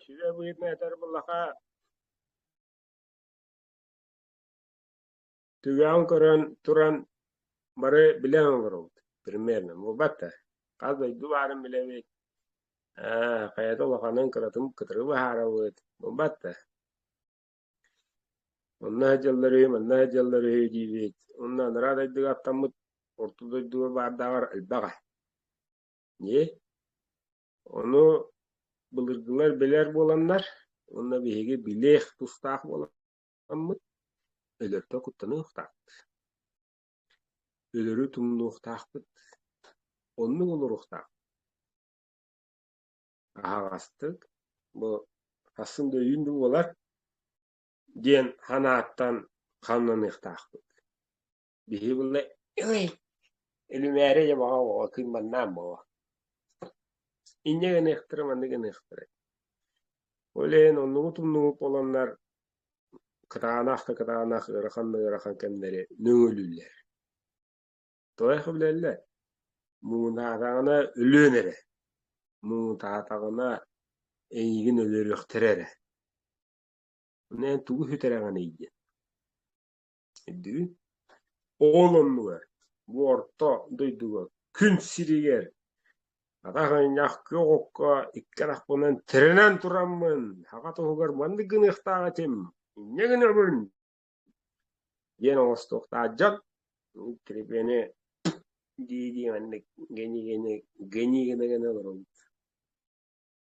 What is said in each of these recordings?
Сүбэ быһыытын этэр былаха түгэҕин көрөн туран бары билэн олоробут примерно буолбат да хас дойду баарын билэбит ээ хайата улаханын кыратын кытары быһаарабыт буолбат да онно сылдьаллар үһү манна сылдьаллар үһү диибит онно анараа дойдуга аттаммыт орто дойдуга баардааҕар элбэҕэ ии Ону былыргылар билэр буоланнар, уонна биһиги билиэх тустаах буоламмыт, өлөртө куттаныахтаахпыт. Өлөрү тумнуохтаахпыт. Оннук олоруохтаахпыт. Аһаҕастык, бу хассын да өйүүн да буолар, диэн санааттан хамнаныахтаахпыт. Биһиги булла Илимээри Ямаҕа оҕо кыйманнаан буолуо Инньэ гыныахтара маннык гыныахтара Ол иһин оннугут-умнугут буоланнар кытаанах да кытаанах ыарахан да ыарахан кэмнэри нөҥүлүүллэр Тоойхо билэллэр муҥутаатаҕына өлүөн эрэ муҥутаатаҕына эйигин өлөрүөхтэрэ эрэ Аны эн тугу сүтэрэҕиний диэн Өйдүүн? Оол оннугар, бу орто дойдуга күн сиригэр атах ынньах күөх окко икки харахпынан тирэнэн тураммын, саха туһугар маннык гыныахтаах этим, инньэ гынабын диэн оҥостуохтаах дьон трепены дии-дии маннык гэнии-гэнии гэнии гына гына олоробут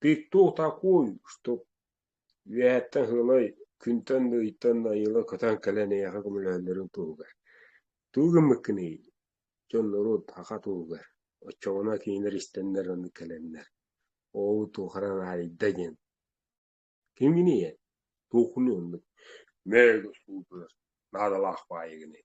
Ты кто такой, что үөһэттэн ыһылай, күнтэн-ыйыттан айыла көтөн кэлэн эйиэхэ көмөлөһөллөрүн туһугар, тугу гыммыккыный, дьон норуот аха туһугар, оччоҕуна кинилэр истэннэр аны кэлэннэр, оо туохаран аайда диэн, кимгиний эн, туоххунуй оннук мээ государь наадалаах баайыгыный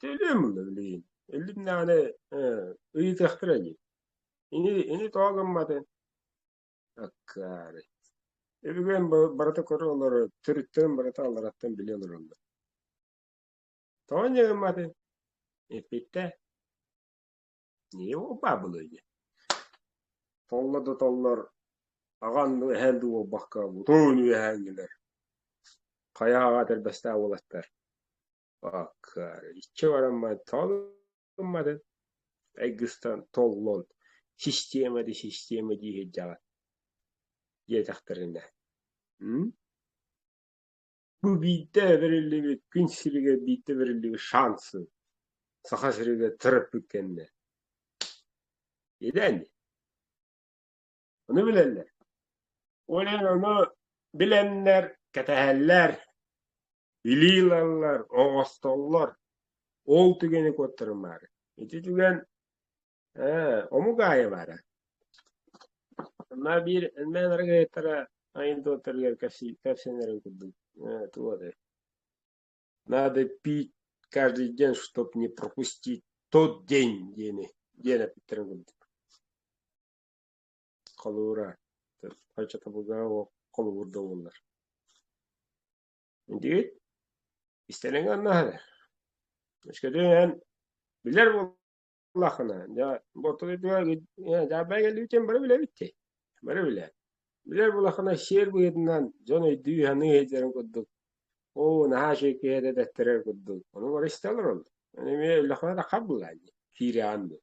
Төлүөм ылла билигин. Иллин даҕаны э, ыйытыахтара дии. Ини, ини тоҕо гымматын? Аккаары. Өбүгэм ба- барыта көрө олорор, төрүттэрин барыта аллараттан билэ олороллор. Тоҕо инньэ гымматын? Эппиттэ, его бабылы диэн. Толла да толлор, аҕан дуу, эһэл дуу буолбакка, утуун үөһээҥҥилэр. Хайаҕа тэлбэстээх уолаттар. иччи баран баран талымматын айгыстан толлон система да система дии сылдьаҕа диэтэхтэринэ бу биирдэ бэриллибит күн сиригэр биирдэ бэриллибит шансы саха сиригэр тырыппыт кэннэ идэни Ону билэллэр. Олен ону билэннэр, кэтэһэллэр, илии ылаллар, оҕостоллор. Ол түгэни куоттарым баары. Ити түгэн омук аайы баара. Ма биир мен аргыттара айын туоттарыгар кэпсэнэрин курдук туоды. Надо пить каждый день, чтоб не пропустить тот день, диэни диэн эпиттерин курдук. Холуура, хачатабылга ол холобур да буоллар. Дии, истэриҥ аннаһыны. Өскөтүн эн билэр буоллаххына, дьэ, бортулуйдугар дьаабай кэлбитин бары билэбиттий? Бары билээт. Билэр буоллаххына, сиэр быһыытынан дьон өйдүү-саныы сылдьарын курдук, оо, наһаа чиэкиһи этэ тэттэрэр курдук, ону бары истэ олороллор. Эмиэ өллөххүнэ да хап булаан дии, киирэҕин дуу.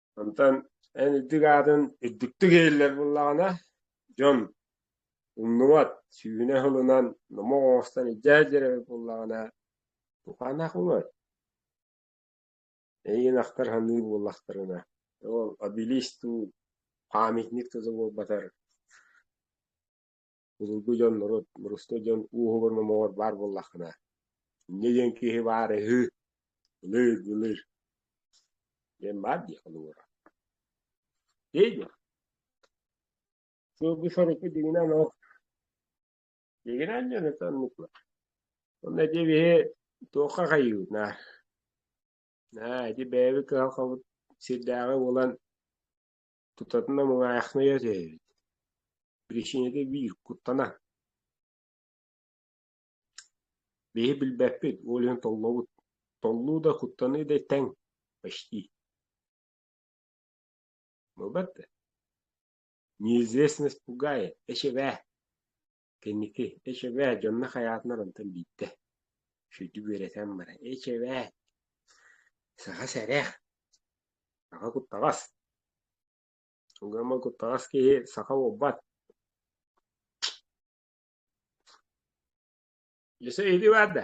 Онтон эн үрдүк аатын үрдүктүк иһиллэр буоллаҕына, дьон умнубат, сүүнэ сылынан номох оҥостон илдьээт дьиэрэбит буоллаҕына, тукаанах умар. Эйигин ахтар саныыр буоллахтарына, ол обелиск дуу, памятник туту буолбатар Былыргы дьон норуот мырыста дьон ууһугар номоҕор баар буоллаххына, инньэ диэн киһи баар үһү, ылыыр, ылыыр диэн баар дии холобура. Ии диэн. Сылгы сорукку дигинэн ол дигинэн дьону танныкла. Онно ити биһи туохха хайыына. Наа, ити бэйэби кыһалҕабыт сирдээҕи буолан Тутатына муҥаайахныйа түһэбит, биричиинэтэ биир куттана, биһи билбэппит, ол иһин толлобут, толлуу да, куттаныы да тэҥ почти. Бу бэрт, неизвестность пугает, эчэбээ Кэнники «Эчэбээ, дьонно хайаатынар онтон биирдэ» сүдү үөрэтэн баран «Эчэбээ, саха сэрэх, саха куттаҕас, угамма куттаҕас киһи саха уолбат» Дьэ, сэ иһити баар да